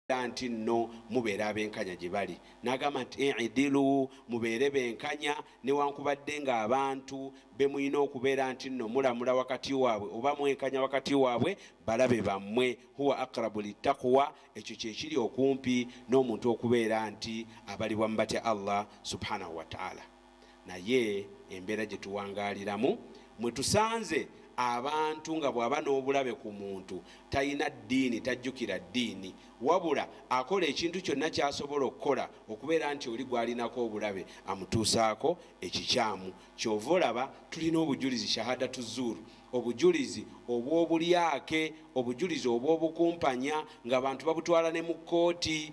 era nti nno mubeera abenkanya gye bali n'agamba nti idilu mubeere benkanya newankubadde ng'abantu be mulina okubeera nti nno mulamula wakati waabwe oba mwenkanya wakati waabwe balabe bammwe huwa akrabu littakuwa ekyo kye kiri okumpi n'omuntu okubeera nti abalibwa mu batya allah subhanahu wataala naye embeera gye tuwangaaliramu mwe tusanze abantu nga bw'aba n'obulabe ku muntu talina ddiini tajjukira ddiini wabula akola ekintu kyonna ky'asobola okukola okubeera nti oli gw'alinako obulabe amutuusaako ekikyamu ky'ova olaba tulina obujulizi shahadatu zuuru obujulizi obw'obulyake obujulizi obw'obukumpanya ng'abantu babutwala ne mu kkooti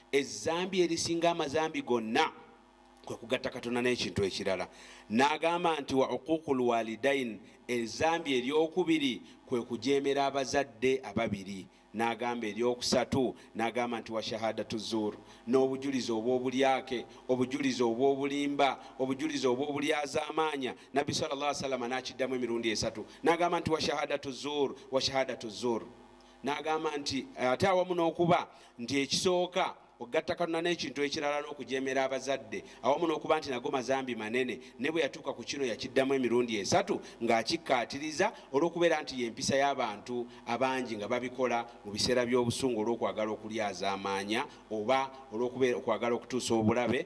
Ezzambi erisinga amazambi gonna kwe kugatta Katonda n'ekintu ekirala. N'agamba nti wa uquuqul waalidain, ezzambi ery'okubiri kwe kujeemera abazadde ababiri. N'agamba ery'okusatu, n'agamba nti wa shahaadatu zuur, n'obujulizi obw'obulyake, obujulizi obw'obulimba, obujulizi obw'obulyazaamaanya. Nabbi swalla Llaahu alayhi wa sallama n'akiddamu emirundi esatu. N'agamba nti wa shahaadatu zuur, wa shahaadatu zuur. N'agamba nti ate awamu n'okuba nti ekisooka okugatta Katonda n'ekintu ekirala n'okujeemera abazadde awamu n'okuba nti nago mazambi manene, ne bwe yatuuka ku kino yakiddamu emirundi esatu ng'akikkaatiriza olw'okubeera nti y'empisa y'abantu abangi nga babikola mu biseera by'obusungu olw'okwagala okulyazaamaanya oba olw'okwagala okutuusa obulabe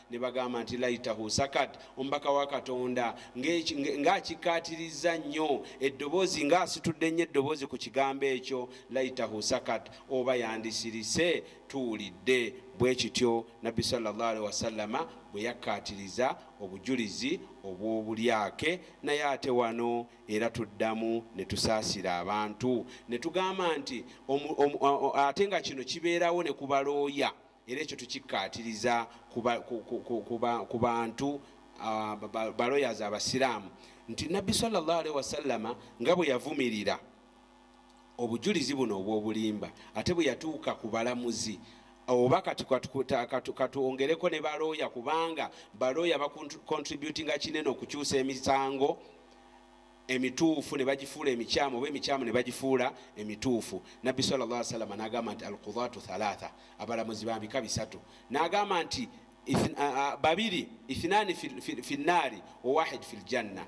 Ne bagamba nti, Layitahu sakat, Omubaka wa Katonda nga, nga, nga akikkaatirizza nnyo eddoboozi, nga asitudde nnyo eddoboozi ku kigambo ekyo, Layitahu sakat, oba yandisirise, tuwulidde. Bwe kityo Nabbi salla Allahu alaihi wasallama bwe yakkaatiriza obujulizi obw'obulyake. Naye ate wano era tuddamu ne tusaasira abantu ne tugamba nti, omu, omu, ate nga kino kibeerawo ne ku balooya. Era ekyo tukikkaatiriza ku bantu, ba lawyers Abasiraamu, nti Nnabbi swalla Llaahu alaihi wasallama nga bwe yavumirira obujulizi buno obw'obulimba ate bwe yatuuka ku balamuzi oba kati katwongereko ne ba looya kubanga ba looya ba contributinga kinene okukyusa emisango. emituufu ne bagifuula emikyamu oba emikyamu ne bagifuula emituufu nabbi sal llah salama nagamba nti alkudatu thalatha abalamuzi bambika bisatu nagamba nti babiri ithinaani fi nnaari wawahid fi ljanna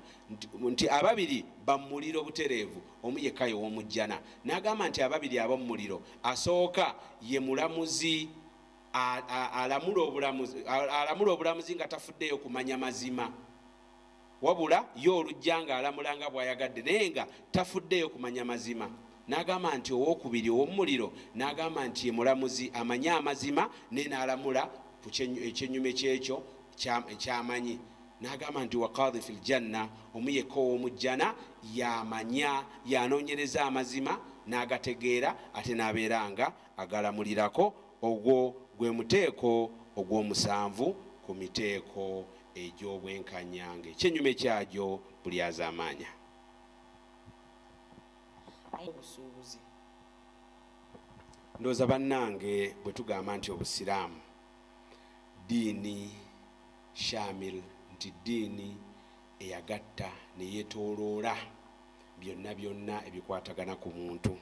nti ababiri bamumuliro butereevu omu yekka yewomujjana nagamba nti ababiri abamumuliro asooka ye mulamuzi alamula obulamuzi nga tafuddeyo kumanya mazima Wabula ye olujja ng'alamula nga bw'ayagadde naye nga tafuddeeyo kumanya mazima. N'agamba nti owookubiri ow'omu muliro n'agamba nti ye mulamuzi amanyi amazima naye n'alamula ku ekyennyume ky'ekyo ky'amanyi. N'agamba nti wa Qaadhi fil Janna, omu yekka ow'omu Jjana y'amanya, y'anoonyereza amazima n'agategeera ate n'abeera nga agalamulirako. Ogwo gwe muteeko ogw'omusanvu ku miteeko egy'obwenkanya ng'ekyennyume kyagyo bulyazaamaanya. Obusuubuzi. Ndowooza bannange bwe tugamba nti Obusiraamu ddiini shaamil, nti ddiini eyagatta ne yeetooloola byonna byonna ebikwatagana ku muntu,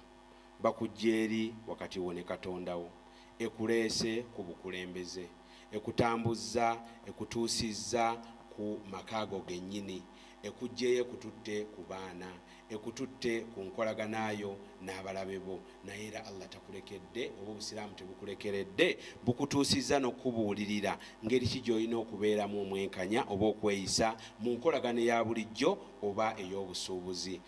Bakuggye eri wakati wo ne Katonda wo, ekuleese ku bukulembeze, ekutambuzza ekutuusizza ku maka go gennyini, ekuggyeyo ekututte ku baana, ekututte ku nkolagana yo n'abalabe bo, naye era Allah takulekedde oba Obusiraamu tebukulekeredde bukutuusizza n'okukubuulirira ngeri ki gy'olina okubeeramu omwenkanya oba okweyisa mu nkolagana eya bulijjo oba ey'obusuubuzi.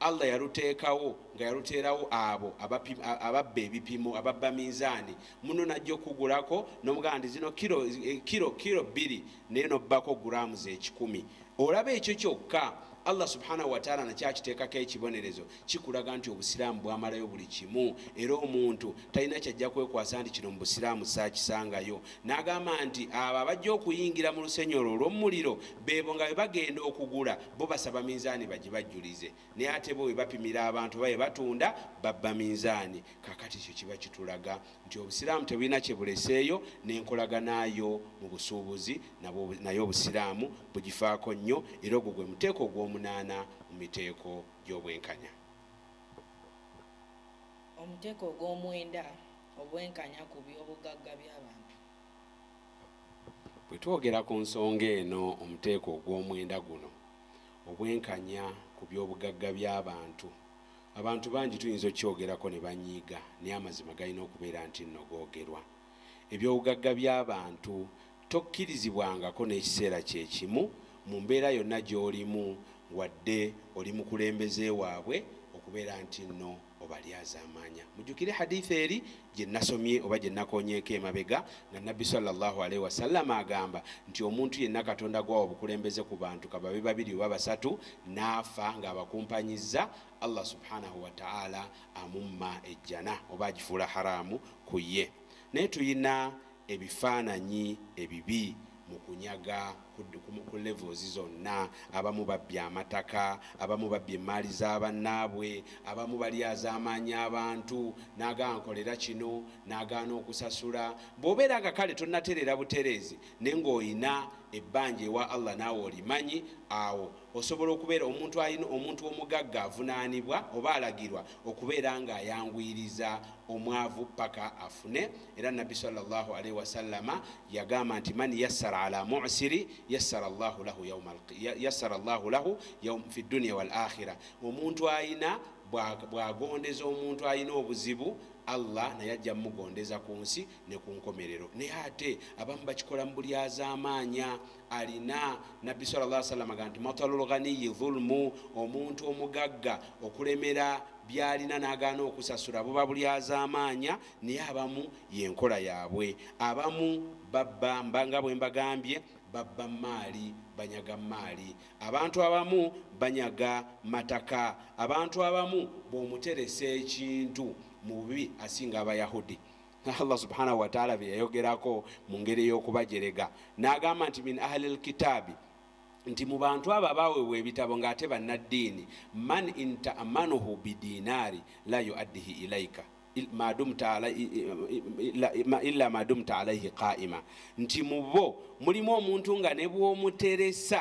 Allah yaluteekawo nga yaluteerawo abo ababba ebipimo ababba minzaani muno najja okukugulako nomugamba nti zino kiro eh, kiro bbiri naye nobbako guraamu zekikumi olaba ekyo kyokka allah subhanahu wataala nakyo akiteekako ekibonerezo kikulaga nti obusiraamu bwamalayo buli kimu era omuntu talina kyajja kwekwasa nti kino mu busiraamu saakisangayo N'agamba nti abo abajja okuyingira mu lusenyi olwo olw'omumuliro beebo nga bwe bagenda okugula bo basaba minzaani bagibajjulize naye ate bo we bapimira abantu oba we batunda babba minzaani. Kaakati ekyo kiba kitulaga nti Obusiraamu tebulina kye buleseeyo n'enkolagana yo mu busuubuzi nabwo nayo Obusiraamu bugifaako nnyo era ogwo gwe muteeko ogw'omunaana mu miteeko gy'obwenkanya. Omuteeko ogw'omwenda obwenkanya ku by'obugagga by'abantu. Bwe twogera ku nsonga eno omuteeko ogw'omwenda guno, obwenkanya ku by'obugagga by'abantu, abantu bangi tuyinza okukyogerako ne banyiiga naye amazima galina okubeera nti nno googerwa. Eby'obugagga by'abantu Tokkirizibwangako n'ekiseera kye kimu, mu mbeera yonna gy'olimu, wadde oli mukulembeze waabwe, okubeera nti nno obalyazaamaanya. Mujjukire hadiith eri gye nnasomye oba gye nnakoonyeeko emabega, nga Nabbi swalla Llaahu alaihi wasallama agamba nti, Omuntu yenna Katonda gw'awa obukulembeze ku bantu ka babe babiri oba basatu, n'afa nga abakumpanyizza, Allah subhaanahu wa ta'aala amumma Ejjana oba agifuula haraamu ku ye. Naye tulina ebifaananyi ebibi mu kunyaga ku levels zonna, abamu babbye amataka, abamu babbye emmaali za bannaabwe, abamu balyazaamaanya abantu n'agamba nkolera kino n'agaana okusasula. Bw'obeera nga kale tonnatereera butereezi naye ng'olina ebbanja ewa Allah naawe olimanyi, awo osobola okubeera omuntu alina omuntu omugagga avunaanibwa oba alagirwa okubeera ng'ayanguyiriza omwavu ppaka afune. Era Nabbi swalla Llahu alaihi wasallama yagamba nti man yassara ala mu'siri yassara Llahu lahu yauma yassara Llahu lahu yaum fi dunia wal akhira, omuntu ayina bwagondeza omuntu ayina obuzibu Allah naye ajja mugondeza ku nsi ne ku nkomerero. Naye ate abamu bakikola mu buli azaamaanya alina nabbi sala llah salama ga nti matalul ghaniyi dhulmu omuntu omugagga okulemera byalina n'agaana okusasula buba buli azaamaanya. Naye abamu yenkola yabwe. Abamu babba mba nga bwembagambye babba mmaali, banyaga mmaali. Abantu abamu banyaga mataka. Abantu abamu bwomuteresa ekintu mu bubi asinga abayahudi nga Allah subhanahu wataala beyayogerako mu ngeri eyokubajerega nagamba nti min ahali lkitaabi nti mu bantu abo abaweebwa ebitabo ng'ate bannaddiini man intaamanuhu bidiinaari la yuaddihi ilaika illa madumta alaihi qaima nti mubo mulimu omuntu nga nebwomuteresa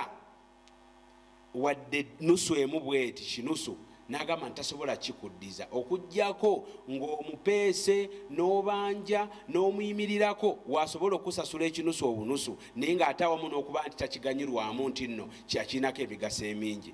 wadde nusu emu bweti kinusu nagamba nti tasobola kikuddiza okugjako ngaomupeese nobanja nomuyimirirako wasobola okusasula ekinusu obunusu naye nga ate awamu nokuba nti takiganyirwamu nti nno kyakirinako emigaso emingi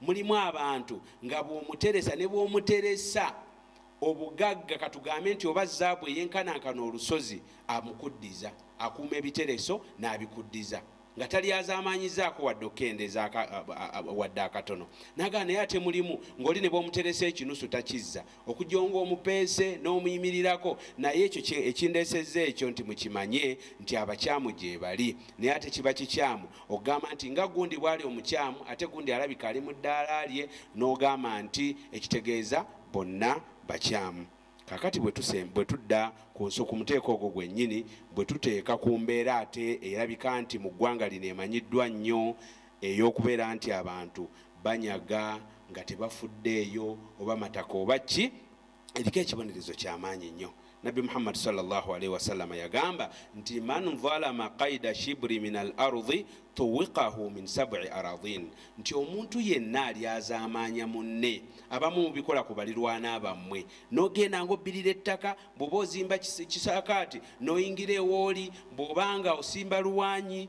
mulimu abantu nga bw'omuteresa ne bw'omuteresa obugagga katugambe nti oba zaabu eyenkanankana olusozi amukuddiza akuuma ebitereso n'abikuddiza nga talyazamaanyizaako wadde okukendeeza wadde akatono nagaa naye ate mulimu ng'oli ne bw'omuteresa ekinusu takizza okujonga omupeese n'omuyimirirako naye ekyo ekindeesezza ekyo nti mukimanye nti abakyamu gyebali naye ate kiba kikyamu okugamba nti nga gundi bwali omukyamu ate gundi alabika ali mu ddaala lye n'ogamba nti ekitegeeza bonna bakyamu kakati bwe tudda ku nsi ku muteeko ogwo gwennyini bwe tuteeka ku mbeera ate erabika nti mu ggwanga lino emanyiddwa nnyo Ey'okubeera nti abantu banyaga nga tebafuddeeyo oba mataka oba ki, eriko ekibonerezo kya maanyi nnyo. Nabbi Muhammad swalla Llaahu alaihi wasallama yagamba nti, Man zalama qaida shibri min al-ardhi tuwiqahu min sab'i aradhin, nti omuntu yenna alyazaamaanya munne, abamu mubikola ku balirwana bammwe, n'ogenda ng'obbirira ettaka, bw'oba ozimba kisaakaate n'oyingira ew'oli, bw'oba nga osimba luwaanyi,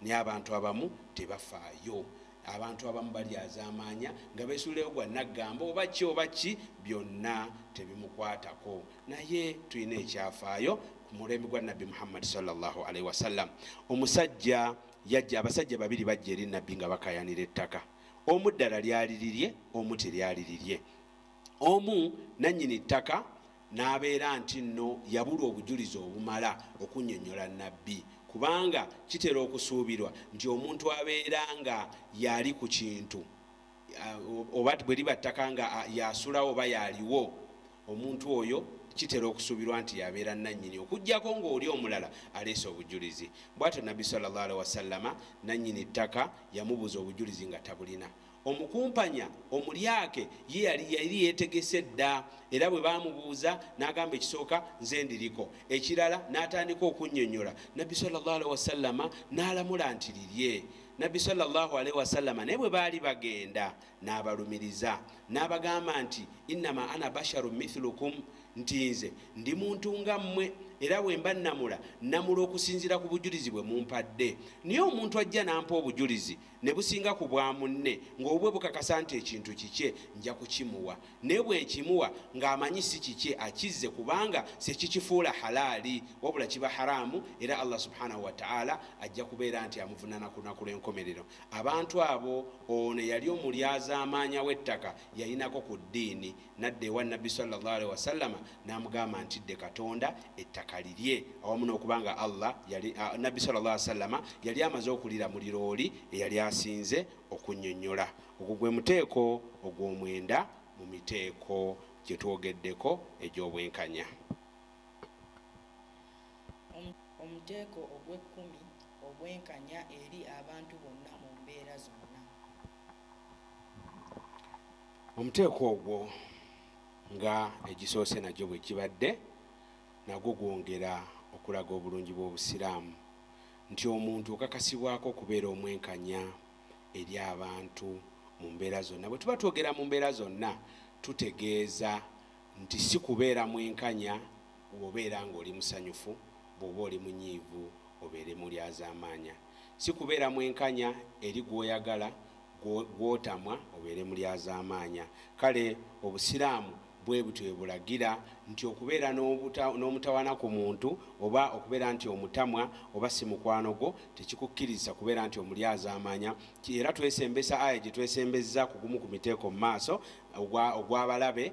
Naye abantu abamu tebafaayo. Abantu abamu balyazaamaanya nga beesuulayo gwa nnaggamba oba ki oba ki, byonna tebimukwatako. Naye tulina ekyafaayo. Ku mulembe gwa Nabbi Muhammadi salla Llaahu alaihi wasallam, omusajja yajja, abasajja babiri bajja eri Nabbi nga bakaayanira ettaka. Omu ddala lyali lirye, omu teryali lirye. Omu, nannyini ttaka, n'abeera nti nno yabulwa obujulizi obumala okunnyonnyola Nabbi, kubanga kitera okusuubirwa nti omuntu abeera nga y'ali ku kintu, oba bwe liba ttaka nga y'asulawo oba y'aliwo, omuntu oyo kitera okusuubirwa nti y'abeera nnannyini okuggyako ng'oli omulala aleese obujulizi. Bw'atyo Nabbi swalla Llaahu alaihi wasallama nannyini ttaka yamubuuza obujulizi nga tabulina. Omukumpanya, omulyake, ye yali yali yeetegese dda era bwe baamubuuza n'agamba ekisooka, Nze ndiriko. Ekirala n'atandika okunnyonnyola. Nabbi swalla Llaahu alaihi wasallama n'alamula nti, Lirye. Nabbi swalla Llaahu alaihi wasallama naye bwe baali bagenda n'abalumiriza n'abagamba nti, Innama ana basharun mithlukum, nti nze ndi muntu nga mmwe era bwe mba nnamula, nnamula okusinziira ku bujulizi bwe mumpadde. Naye omuntu ajja n'ampa obujulizi ne businga ku bwa munne ng'obubwe bukakasa nti ekintu kikye, nja kukimuwa. Naye bwe nkimuwa ng'amanyi si kikye akizze kubanga sekikifuula halaali wabula kiba haraamu era Allah Subhanahu wa Ta'ala ajja kubeera nti amuvunaana ku Lunaku lw'enkomerero. Abantu abo ono eyali omulyazaamaanya w'ettaka yalinako ku ddiini. N'adda ewa Nnabbi swalla Llaahu alaihi wasallama n'amugamba nti, Ddee Katonda ettaka lirye. Awamu n'okuba nga Allah yali, Nnabbi swalla Llaahu alaihi wasallama yali amaze okulira muliro oli eyali asinze okunnyonnyola. Ogwo gwe muteeko ogw'omwenda mu miteeko gye twogeddeko egy'obwenkanya. Omuteeko ogw'ekkumi, Obwenkanya eri abantu bonna mu mbeera zonna. omuteeko ogwo nga egisoose nagyo bwe gibadde nagwo gwongera okulaga obulungi bw'obusiraamu nti omuntu okakasibwako okubeera omwenkanya eri abantu mu mbeera zonna bwe tuba twogera mu mbeera zonna tutegeeza nti si kubeera mwenkanya wobeera ng'oli musanyufu bw'oba oli munyiivu obeere mulyazamaanya Si kubeera mwenkanya eri gw'oyagala, gw'otamwa obeere mulyazaamaanya. Kale Obusiraamu bwe butyo bwe bulagira nti okubeera n'omutawaana ku muntu oba okubeera nti omutamwa oba si mukwano gwo tekikukkirizisa kubeera nti omulyazaamaanya. Era twesembesa aya gye twesembezza ku gumu ku miteeko mu maaso ogw'abalabe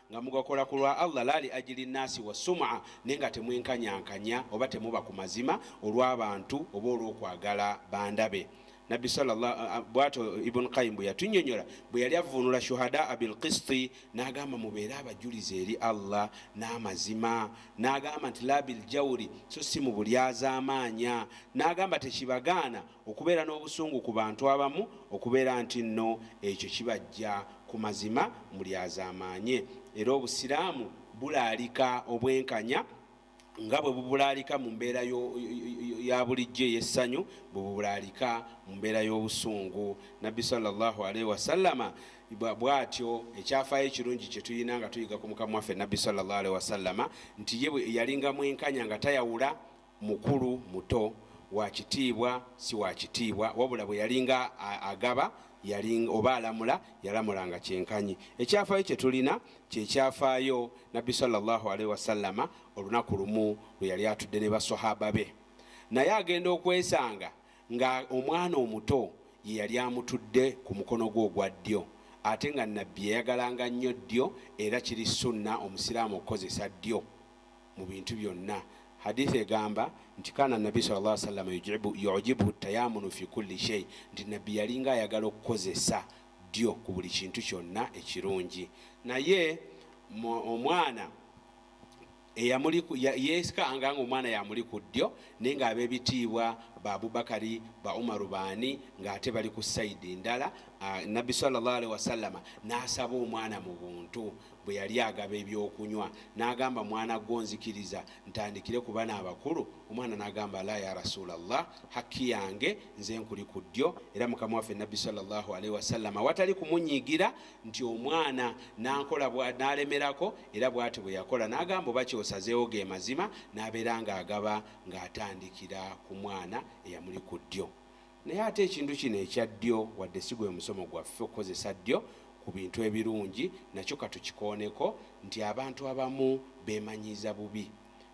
nga mugakola ku lwa Allah laa li ajili nnaasi wa sum'a, naye nga temwenkanyankanya oba temuba ku mazima olw'abantu oba olw'okwagala bandabe. Nabbi sallallaa a, bw'atyo Ibun Qayyim bwe yatunnyonyola bwe yali avvuunula shuhadaa bil-qisiti n'agamba, Mubeere abajulizi eri Allah n'amazima. N'agamba nti, Laa bil-jawri, so si mu bulyazaamaanya. N'agamba, Tekibagaana. Okubeera n'obusungu ku bantu abamu okubeera nti nno ekyo kibaggya ku mazima mulyazaamaanye. Era Obusiraamu bulaalika obwenkanya nga bwe bubulaalika mu mbeera ya bulijjo ey'essanyu, bwe bubulaalika mu mbeera y'obusungu. Nabbi swalla Llaahu alaihi wasallama bw'atyo, ekyafaayo ekirungi kye tulina nga tuyiga ku Mukama waffe Nabbi swalla Llaahu alaihi wasallama nti ye yalinga mwenkanya nga tayawula, mukulu, muto, wa kitiibwa, si wa kitiibwa, wabula bwe yalinga agaba yaling, oba alamula yalamulanga kyenkanyi. Ekyafaayo kye tulina kye kyafaayo Nabbi sala llahu alaihi wasallama olunaku lumu lwe yali atudde ne Baswahaba be, naye agenda okwesanga nga omwana omuto ye yali amutudde ku mukono gwe ogwa ddyo, ate nga Nabbi yayagalanga nnyo ddyo era kiri sunna Omusiraamu okukozesa ddyo. mu bintu byonna Hadiith egamba nti kaana nabbi sallallahu alaihi wasallam yujibu yujibuhu tayamunu fi kulli shay nti nabbi yalinga ayagala okukozesa ddyo ku buli kintu kyonna ekirungi naye omwana yesikanga nga omwana yamuli ku ddyo naye nga abebitiibwa ba abubakari ba umaru baani ngaate bali ku saidi ndala nabbi salllahalihi wasallama nasaba omwana mu buntu bwe yali agaba eby'okunywa, n'agamba mwana gwo nzikiriza ntandikire ku bano abakulu, omwana n'agamba laa ya Rasuula Allah hakki yange nze nkuli ku ddyo era mukama waffe nabbi swalla Llahu alaihi wasallama awatali kumunyiigira nti omwana n'ankola bwa n'alemerako era bwati bwe yakola n'agamba oba kyosazeewo ge mazima n'abeera ng'agaba ng'atandikira ku mwana eyamuli ku ddyo Naye ate ekintu kino ekya ddyo, wadde si gwe musomo gwaffe okukozesa ddyo ku bintu ebirungi, nakyo ka tukikooneko nti abantu abamu beemanyiiza bubi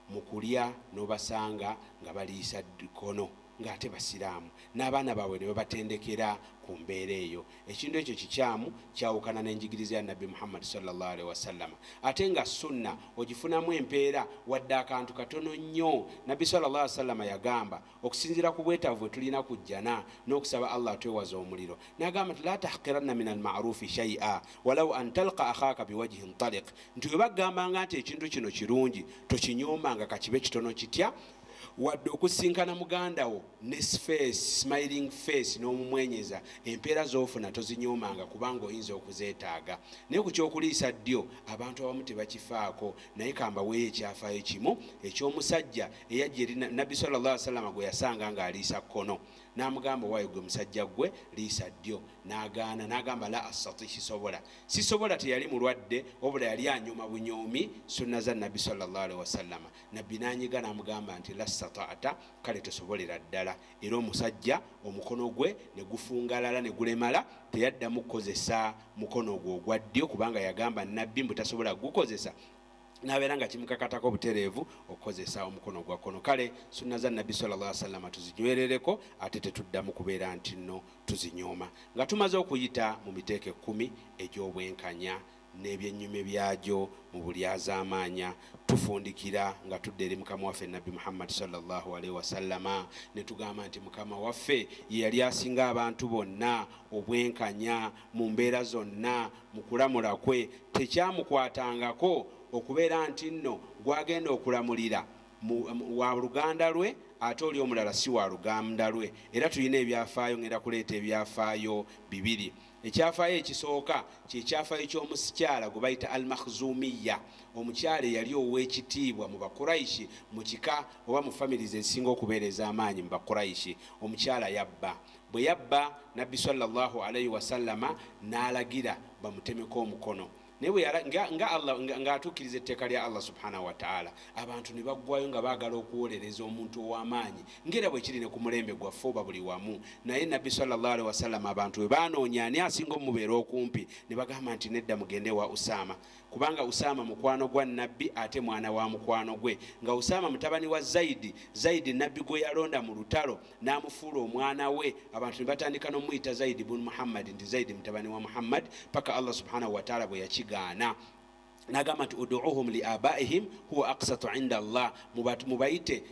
mu kulya n'obasanga nga baliisa kkono ng'ate Basiraamu n'abaana baabwe ne babatendekera ku mbeera eyo. Ekintu ekyo kikyamu, kyawukana n'enjigiriza ya Nabbi Muhammad swalla Llaahu alaihi wasallama. Ate nga Sunnah ogifunamu empeera wadde akantu katono nnyo. Nabbi swalla Llaahu alaihi wasallama yagamba. Okusinziira ku bwetaavu bwe tulina ku Jjana n'okusaba Allah atwewaze omuliro, n'agamba nti, Laa tahqiranna mina al-ma'ruufi shay'a walau an talqa akhaaka biwajhin taliq, nti bwe bakugambanga nti ekintu kino kirungi tokinyoomanga ka kibe kitono kitya, wadde okusisinkana muganda wo ne sifeesi, smiling face, n'omumwenyeza, empeera z'ofuna tozinyoomanga kubanga oyinza okuzeetaaga. Naye ku ky'okuliisa ddyo, abantu abamu tebakifaako. Naye ka mbaweeyo ekyafaayo kimu eky'omusajja eyajja eri Nabbi swalla Llaahu alehi wa sallama gwe yasanga nga aliisa kkono, n'amugamba, Waayi ggwe musajja ggwe, liisa ddyo. N'agaana, n'agamba, Laa astati, sisobola. Sisobola teyali mulwadde, wabula yali anyooma bunyoomi sunna za Nabbi swalla Llaahu alehi wa sallama. Nabbi n'anyiga n'amugamba nti, Laa stata'ta, kale tosobolera ddala. era omusajja omukono gwe ne gufungalala ne gulemala, teyaddamu kukozesa mukono ogwo ogwa ddyo kubanga yagamba Nnabbi mbu tasobola kugukozesa n'abeera nga kimukakatako obutereevu okukozesa omukono ogwa kkono. Kale sunna za Nnabbi swalla Llaahu alayhi wa sallama tuzinywerereko ate tetuddamu kubeera nti nno tuzinyooma. Nga tumaze okuyita mu miteeko ekkumi egy'obwenkanya. n'ebyennyumye byagyo mu bulyazaamaanya, tufundikira nga tudda eri Mukama waffe Nabbi Muhammad swalla Llaahu alaihi wasallama ne tugamba nti, Mukama waffe ye yali asinga abantu bonna obwenkanya mu mbeera zonna mu kulamula kwe, tekyamukwatangako okubeera nti nno gw'agenda okulamulira wa luganda lwe ate oli omulala si wa luganda lwe, era tulina ebyafaayo, ngenda kuleeta ebyafaayo bibiri. Ekyafaayo ekisooka kye kyafaayo ky'omusikyala gwe bayita Al-Makhzumiyya, omukyala eyali ow'ekitiibwa mu Bakuraishi mu kika oba mu families ezisinga okubeera ez'amaanyi mu Bakuraishi. Omukyala yabba. Bwe yabba, Nabbi swalla Llaahu alaihi wasallama n'alagira bamutemeko omukono. naye bwe yala- nga- nga Allah- nga- ng'atuukiriza etteeka lya allah subhanahu wataala abantu ne baggwayo nga baagala okuwolereza omuntu ow'amaanyi ng'era bwe kiri ne ku mulembe gwaffe oba buli wamu naye nabbi salllah alihi wasallama abantu bwe baanoonya ani asinga omubeera okumpi ne bagamba nti nedda mugende ewa usaama kubanga usaama mukwano gwa nabbi ate mwana wa mukwano gwe nga usaama mutabani wa zaidi zaidi nabbi gwe yalonda mu lutalo n'amufuula omwana we abantu ne batandika n'omuyita zaidi bun muhammadi nti zaidi mutabani wa muhammadi paka allah subhanahu wataala bwe yakigaana nagamba nti uduuhum li abaihim huwa aksatu inda allah mubayite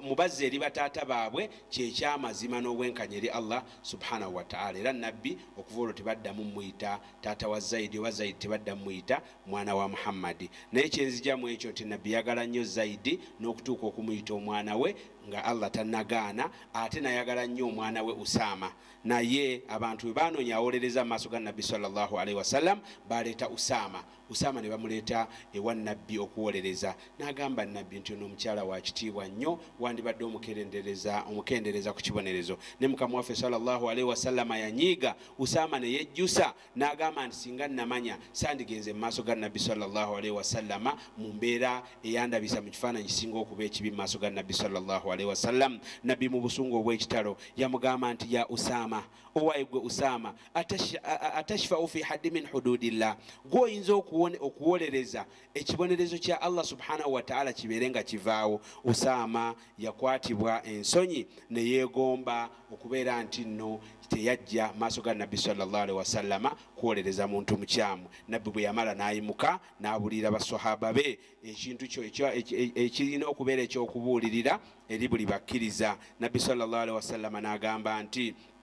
mubazze eri bataata baabwe kyekyamazima n'obwenkanya eri allah subhanahu wataala era nabbi okuva olwo tebaddamu muyita taata wa zaidi oba zaidi tebaddamu muyita Mwana wa Muhammadi. Naye kye nzija mu ekyo nti Nabbi yagala nnyo Zayidi n'okutuuka okumuyita omwana we nga Allah tannagaana, ate nayagala nnyo omwana we Usaama. Naye abantu bwe baanoonya awolereza mu maaso ga Nabbi swalla Llaahu alaihi wasallam, baaleeta Usaama. Usaama ne bamuleeta ewa Nabbi okuwolereza. N'agamba Nabbi nti, Ono omukyala wa kitiibwa nnyo, wandibadde omukerendereza, omukendeereza ku kibonerezo. Ne Mukama waffe swalla Llaahu alaihi wasallama yanyiiga Usaama ne yejjusa. N'agamba nti, Singa nnamanya sandigenze mu maaso ga Nabbi swalla Llaahu alaihi wasallama mu mbeera eyandabisa mu kifaananyi ekisinga okuba ekibi mu maaso ga Nabbi swalla Llaahu alaihi wasallam. Nabbi mu busungu obw'ekitalo yamugamba nti, Ya Usaama! Owaye ggwe Usaama! Atash, atashfa'u fi haddi min huduudillah? Ggwe oyinza okuwone, okuwolereza ekibonerezo kya Allah subhanahu wataala kibeere nga kivaawo, Usaama yakwatibwa ensonyi neyeegomba okubeera nti nno teyajja maaso ga Nabbi swalla Llahu alaihi wasallama kwolereza muntu mukyamu, Nabbi bweyamala nayimuka nabuliira ba swahaba be ekintu kyo ekirina okubeera ekyokubuulirira eri buli bakkiriza, Nabbi swalla Llahu alaihi wasallama nagamba nti.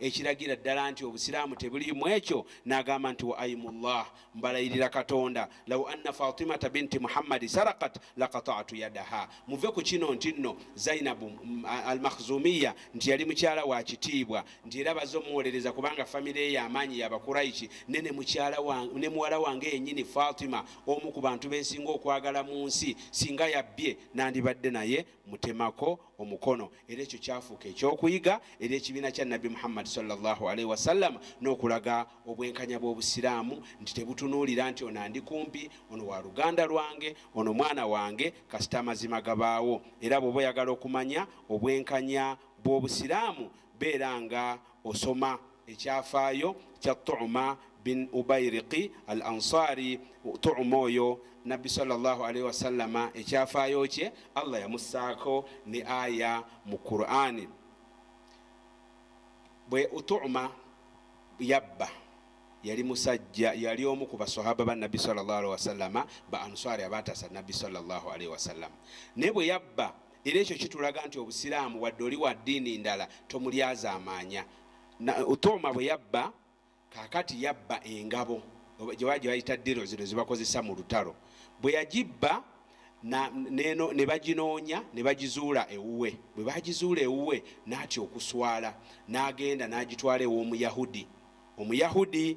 ekiragira ddala nti obusiraamu tebuli mu ekyo n'agamba nti wa aimullah mbalayirira katonda lau anna fatimata binti muhammadi sarakat lakatatu yadaha muve ku kino nti nno zainabu mm, almakhzumiya nti yali mukyala wa kitiibwa nti era baze omuwolereza kubanga famire ye amaanyi yabakuraishi ne ne muwala wange yennyini fatima omu ku bantu bensinga okwagala mu nsi singa yabbye nandibadde naye mutemako omukono era ekyo kyafuuka ekyokuyiga eri ekibiina kya nabbi muhammadi salllahalaihi wasallama n'okulaga obwenkanya bw'obusiraamu nti tebutunuulira nti ono andi kumpi ono wa luganda lwange ono mwana wange kasita amazima gabaawo era bw'oba oyagala okumanya obwenkanya bw'obusiraamu beera nga osoma Ekyafaayo kya Tu'ma bin Ubayriqi Al-Ansaari, Tu'ma oyo Nabbi swalla-Llaahu alaihi wasallama ekyafaayo kye Allah yamussaako ne aya mu Kuraani. Bwe Tu'ma yabba yali musajja yali omu ku baswahaba ba Nabbi swalla-Llaahu alaihi wasallama ba Ansaari abaataasa Nabbi swalla-Llaahu alaihi wasallama naye bwe yabba era ekyo kitulaga nti obusiraamu wadde oli wa ddiini ndala tomulyazaamaanya Utooma bwe yabba, kaakati yabba engabo gye bayita ddiro zino ze bakozesa mu lutalo. Bwe yagibba ne baginoonya ne bagizuula ewuwe. Bwe baagizuula ewuwe n'atya okuswala n'agenda n'agitwala ew'Omuyahudi. Omuyahudi.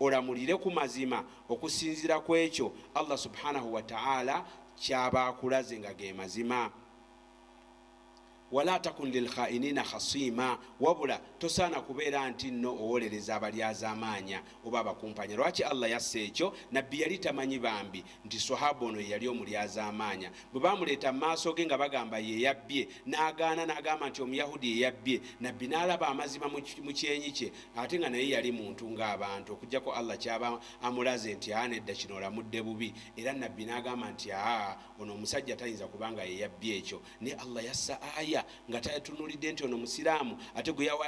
olamulire ku mazima okusinziira ku ekyo Allah subhanahu wa ta'ala kyaba akulaze nga ge mazima wala takun lilkhainina khasiima wabula tosaana kubeera nti nno owolereza abalyazaamaanya oba abakumpanya lwaki allah yassa ekyo nabbi yali tamanyi bambi nti Swahaba ono ye yali omulyazaamaanya. Bwe baamuleeta mu maaso ge nga bagamba ye yabbye, n'agaana n'agamba nti Omuyahudi ye yabbye. Nabbi, n'alaba amazima mu kyenyi kye ate nga naye yali muntu ng'abantu okuggyako Allah ky'aba amulaze nti, Aa, nedda kino olamudde bubi. Era Nabbi, n'agamba nti, Aa, ono omusajja tayinza kuba nga ye yabbye ekyo. Naye Allah yassa aya nga tatunuulidde nti ono Musiraamu ate gwe yawa.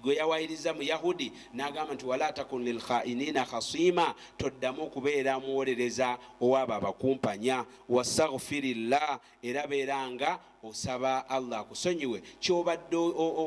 gwe yawayiriza mu yahudi nagamba nti wala takun lilkhainina khasima toddamu okubeera muwolereza owaabo abakumpanya wastaghfirillah era beera nga osaba allah akusonyiwe kyobadde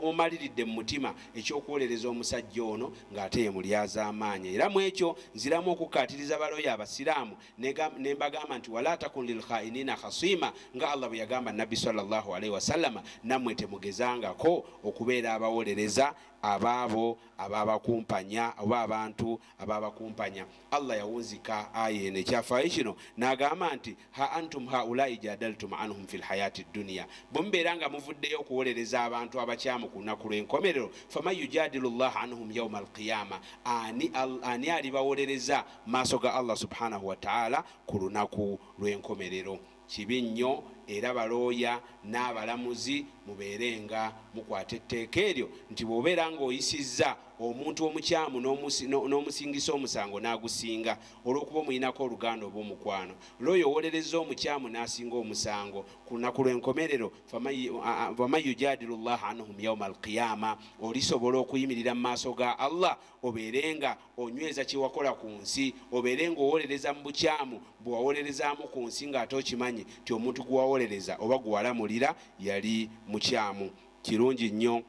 omaliridde mu mutima ekyokuwolereza omusajja ono ng'ate ye mulyazamaanya era mu ekyo nziramu okukkaatiriza baloyo abasiraamu Ne mbagamba nti, Walaa takun lilkhainiina khasiima, nga Allah bwe yagamba Nabbi swalla Llaahu alaihi wasallama, nammwe temugezangako okubeera abawolereza ab'abo abaabakumpanya oba abantu abaabakumpanya. Allah yawunzika aya eno ekyafaayo kino n'agamba nti, Ha antum haulaa'i jaadaltum anhum fil hayaati dduniya, bwe mubeera nga muvuddeyo okuwolereza abantu abakyamu ku lunaku lw'enkomerero, faman yujaadilu Llaaha anhum yauma alqiyaama, ani, ani alibawolereza? maaso ga Allah subhanahu wa ta'ala ku lunaku lw'enkomerero. Kibi nnyo era balooya n'abalamuzi mubeere nga mukwata etteeka eryo nti bw'obeera ng'oyisizza omuntu omukyamu n'omusingisa omusango n'agusinga olw'okuba omuyinako oluganda oba omukwano looya owolerezza omukyamu n'asinga omusango ku lunaku lw'enkomerero waman yujadilu llaha anhum yauma alqiyama olisobola okuyimirira mu maaso ga allah obeere nga onyweza kye wakola ku nsi, obeere nga owolereza mu bukyamu bwe wawolerezaamu ku nsi nga ate okimanyi nti omuntu gwe wawolereza oba gwe walamulira yali mukyamu. Kirungi nnyo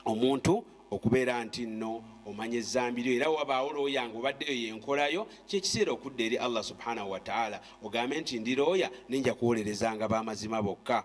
omuntu okubeera nti nno omanya ezzambi lyo era wabaawo looya nga obadde eyo y'enkola yo, ky'ekiseera okudda eri Allah subhanahu wa ta'ala ogambe nti ndi looya naye nja kuwolerezanga b'amazima bokka.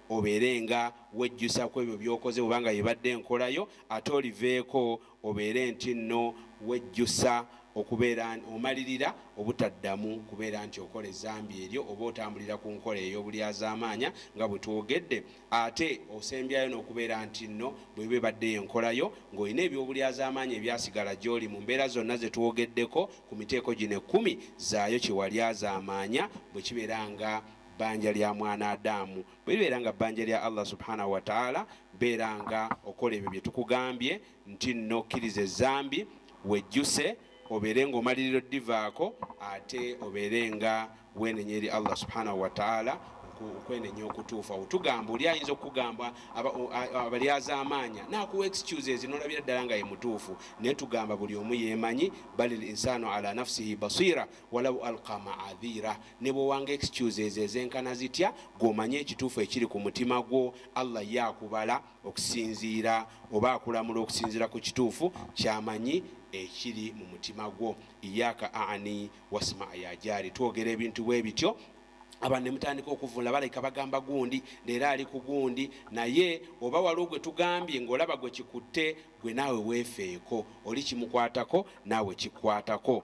obeere nga wejjusa kwebyo byokoze bweba nga yebadde enkola yo ate oliveeko obeere ntinno wejjusa okubeera omalirira obutaddamu kubeera nti okola ezambi eryo oba otambulira ku nkola eyobulyazaamaanya nga bwetwogedde ate osembyayo nokubeera ntinno bweba ebadde yenkola yo ngolina ebyobulyazaamaanya ebyasigala gyoli mu mbeera zonna zetwogeddeko ku miteeko gino ekkumi zaayo kyewalyazaamaanya bwekibeera nga Bbanja lya mwanadamu bwelibeera nga bbanja lya Allah subhanah wa taala beera nga okola ebyo byetukugambye ntinno okkirize ezzambi, wejjuse, obeere nga omalirira oddivaako ate obeere nga wenenya eri Allah subhanah wa taala okwenenya okutuufu. Awo tugamba oli ayinza okukugamba abalyazaamaanya nakuwa excuses nolabira ddala nga yemutuufu naye tugamba buli omu yemanyi balil insanu ala nafsihi basiira Walau alqa ma'adhira, ne bw'owanga excuses ezenkana zitya, ggwe omanyi ekituufu ekiri ku mutima gwo. Allah ye akubala okusinziira oba akulamula okusinziira ku kituufu ky'amanyi ekiri mu mutima gwo. Iyyaka a'ni wasma' ya jaari, twogera ebintu bwe bityo abantu ne mutandika okuvvuunula balabika bagamba gundi leero ali ku gundi, naye oba waliwo gwe tugambye ng'olaba gwe kikutte, ggwe naawe weefeeko oli kimukwatako naawe kikukwatako.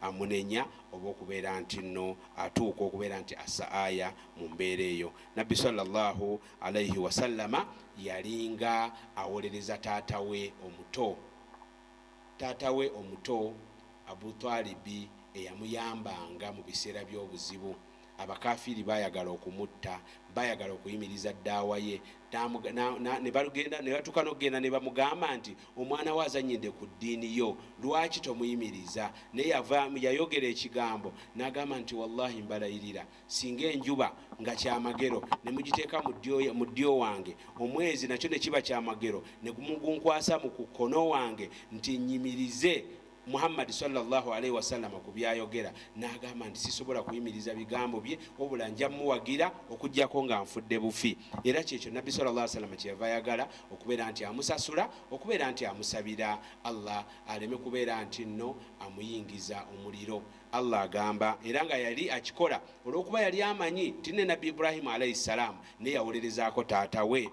amunenya oba okubeera nti nno atuuka okubeera nti assa aya mu mbeera eyo. Nabbi swalla Llaahu alaihi wasallama yalinga awolereza taata we omuto, taata we omuto Abu Twalibi eyamuyambanga mu biseera by'obuzibu. abakafiiri baayagala okumutta, baayagala okuyimiriza ddaawa ye, ne batuuka n'okugenda ne bamugamba nti, omwana wo azannyidde ku ddiini yo, lwaki tomuyimiriza? Naye yavaamu, yayogera ekigambo, n'agamba nti, wallahi mbalayirira, singa enjuba nga kyamagero ne mugiteeka mu ddyo wange, omwezi nakyo ne kiba kyamagero ne mugunkwasa mu ku kkono wange nti nnyimirize, Muhammad swalla Llahu alaihi wasallama ku byayogera n'agamba nti sisobola kuyimiriza bigambo bye wabula nja muwagira okujjako nga nfudde bufi era kyekyo nabbi sala llah salama kyeyava ayagala okubeera nti amusasula okubeera nti amusabira allah aleme kubeera nti nno amuyingiza omuliro allah agamba era nga yali akikola olw'okuba yali amanyi nti ne nabbi ibrahimu alaihi salaamu ne yawolerezaako taata we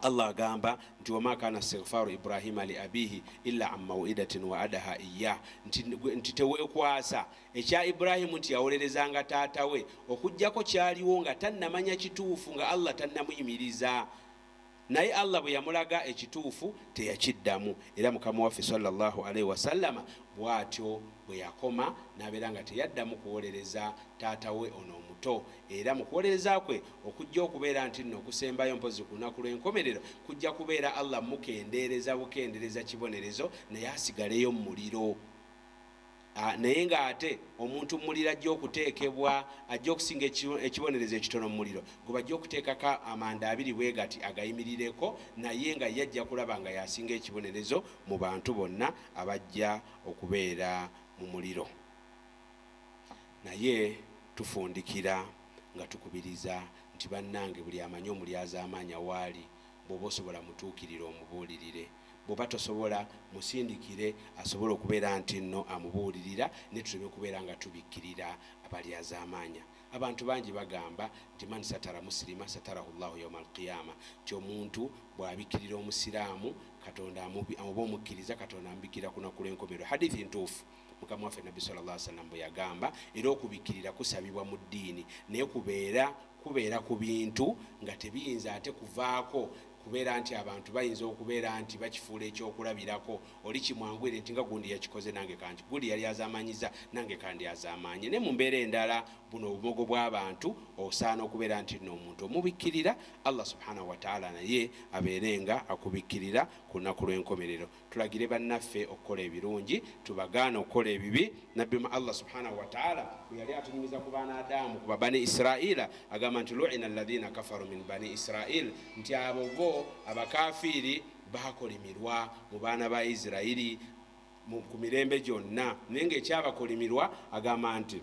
Allah agamba nti wama kana stigfaru Ibrahima li abihi illa an mauidatin wa adaha iyah nti, nti tewekwasa ekya Ibrahimu nti yawolerezanga taata we okujjako kyaliwo nga tannamanya kituufu nga Allah tannamuyimiriza naye Allah bwe yamulaga ekituufu teyakiddamu era mukama waffe sallallahu alaihi wasallama Bw'atyo bwe yakoma n'abeera nga teyaddamu kuwolereza taata we ono omuto. Era mu kuwolereza kwe okujja okubeera nti nno okusembayo mpozzi ku Lunaku Lw'enkomerero kujja kubeera Allah mmukendeereza bukendereza kibonerezo naye asigaleyo mu muliro. A, naye nga ate omuntu mu muliro ajja okuteekebwa, ajja okusinga eki, ekibonerezo ekitono mu muliro, gwe bajja okuteekako amanda abiri bwe gati agayimirireko, naye nga ye ajja kulaba nga y'asinga ekibonerezo mu bantu bonna. abajja okubeera mu muliro, naye tufundikira nga tukubiriza nti, Bannange, buli amanyi Omulyazaamaanya w'ali, bw'oba osobola mutuukirire omubuulirire. Bw'oba tosobola, musindikire asobole okubeera ntinno amubuulirira, naye tuleme kubeera nga tubikkirira abalyazaamaanya. Abantu bangi bagamba nti man satara musilima satarahu Llahu yauma alqiyama nti omuntu bwabikirira omusiraamu katonda oba omukkiriza katonda amubikirira kunaku lwenkomerero hadithi ntuufu mukama waffe nabbi sal llah sallam bwe yagamba era okubikirira kusabibwa mu ddiini naye kubeera kubeera ku bintu nga tebiyinza ate kuvaako Kubeera nti abantu bayinza okubeera nti bakifuula eky'okulabirako, oli kimwanguyire nti nga gundi yakikoze nange kanki, gundi yalyazaamaanyizza nange kandyazaamaanye. Naye mu mbeera endala buno obumogo bw'abantu osaana okubeera nti nno omuntu omubikkirira, Allah subhanahu wa ta'ala naye abeere nga akubikkirira ku lunaku lw'enkomerero. Tulagire bannaffe okukola ebirungi, tubagaane okukola ebibi, Nabbi mu Allah subhaanahu wa ta'aala bwe yali atunyumiza ku baana Adamu ku ba Bani Israa'iila agamba nti, Lu'ina alladhiina kafaru min bani Israa'iil nti abo bo, abakaafiiri, baakolimirwa mu baana ba Israili mu ku mirembe gyonna naye ng'ekyabakolimirwa agamba nti,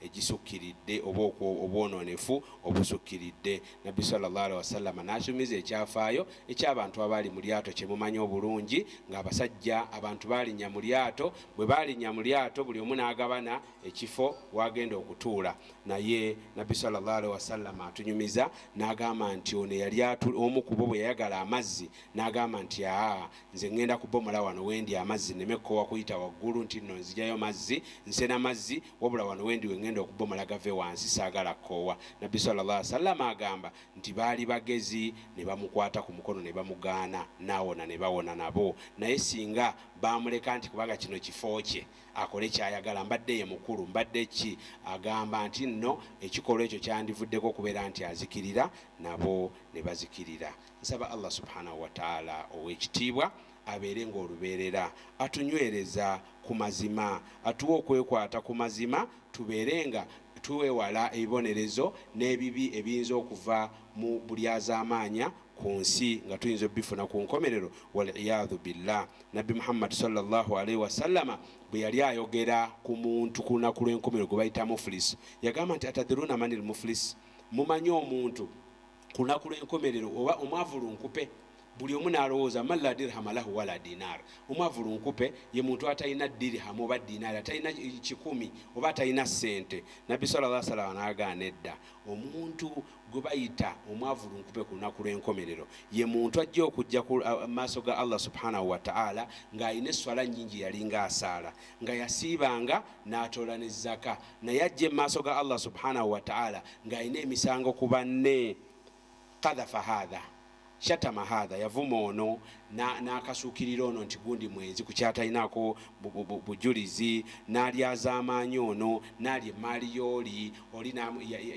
egisukkiridde oba okwo obwonoonefu obusukkiridde. Nabbi swalla Llaahu alaihi wasallama n'akyumiza ekyafaayo eky'abantu abaali mu lyato kye mumanyi obulungi nga abasajja abantu baalinnya mu lyato, bwe baalinnya mu lyato buli omu n'agabana ekifo w'agenda okutuula naye Nabbi swalla Llaahu alaihi wasallama atunyumiza n'agamba nti ono eyali omu ku bo bwe yayagala amazzi n'agamba nti aa Nze ngenda kubomola wano wendi amazzi neme kukowa kuyita waggulu nti nno nzijayo mazzi nsena mazzi wabula wano wendi wengenda okubomola gave wansi sagala koowa nabbi swalla Allah wasallama agamba nti baali bagezi nebamukwata ku mukono nebamugaana nawona nebawona nabo naye singa bamuleka nti kubanga kino kifo kye akole kyayagala mbadde ye mukulu mbadde ki agamba nti nno ekikolwa ekyo kyandivuddeko okubeera nti azikirira nabo nebazikirira Nsaba Allah subhanah wa taala owekitiibwa abeere nga olubeerera atunywereza ku mazima, atuwe okwekwata ku mazima tubeere nga twewala ebibonerezo n'ebibi ebiyinza okuva mu bulyazaamaanya ku nsi nga tuyinza obifuna ku nkomerero wal iyaadhu billah. Nabbi Muhammad swalla Llaahu alaihi wasallama bwe yali ayogera ku muntu ku lunaku lw'enkomerero gwe bayita muflis yagamba nti, atadhiruuna manil muflis? Mumanyi omuntu. Ku lunaku lw'enkomerero oba omwavu lunkupe, buli omu n'alowooza, Man laa dirhama lahu walaa diinaar, Omwavu lunkupe ye muntu atalina dirham oba diinaari, atalina kikumi oba atalina ssente. Nabbi swalla Llaahu alehi wa sallam n'agaa, Nedda, omuntu gwe bayita omwavu lunkupe ku lunaku lw'enkomerero ye muntu ajja okujja ku maaso ga Allah subhaanahu wa ta'aala ng'alina esswala nnyingi yalinga asaala, nga yasiibanga, n'atoola ne zaka. naye ajje mu maaso ga allah subhanahu wataala ng'alina emisango ku banne kadhafa hadha shatama hadha yavuma ono n'akasuukirira ono nti gundi mwenzi ku kyatalinako bujulizi n'alyazaamaanyi ono n'ali emaali yooli oli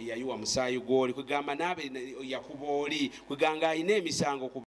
yayiwa musaayi gwoli kwegamba naabe yakuba oli kwegamba alina emisango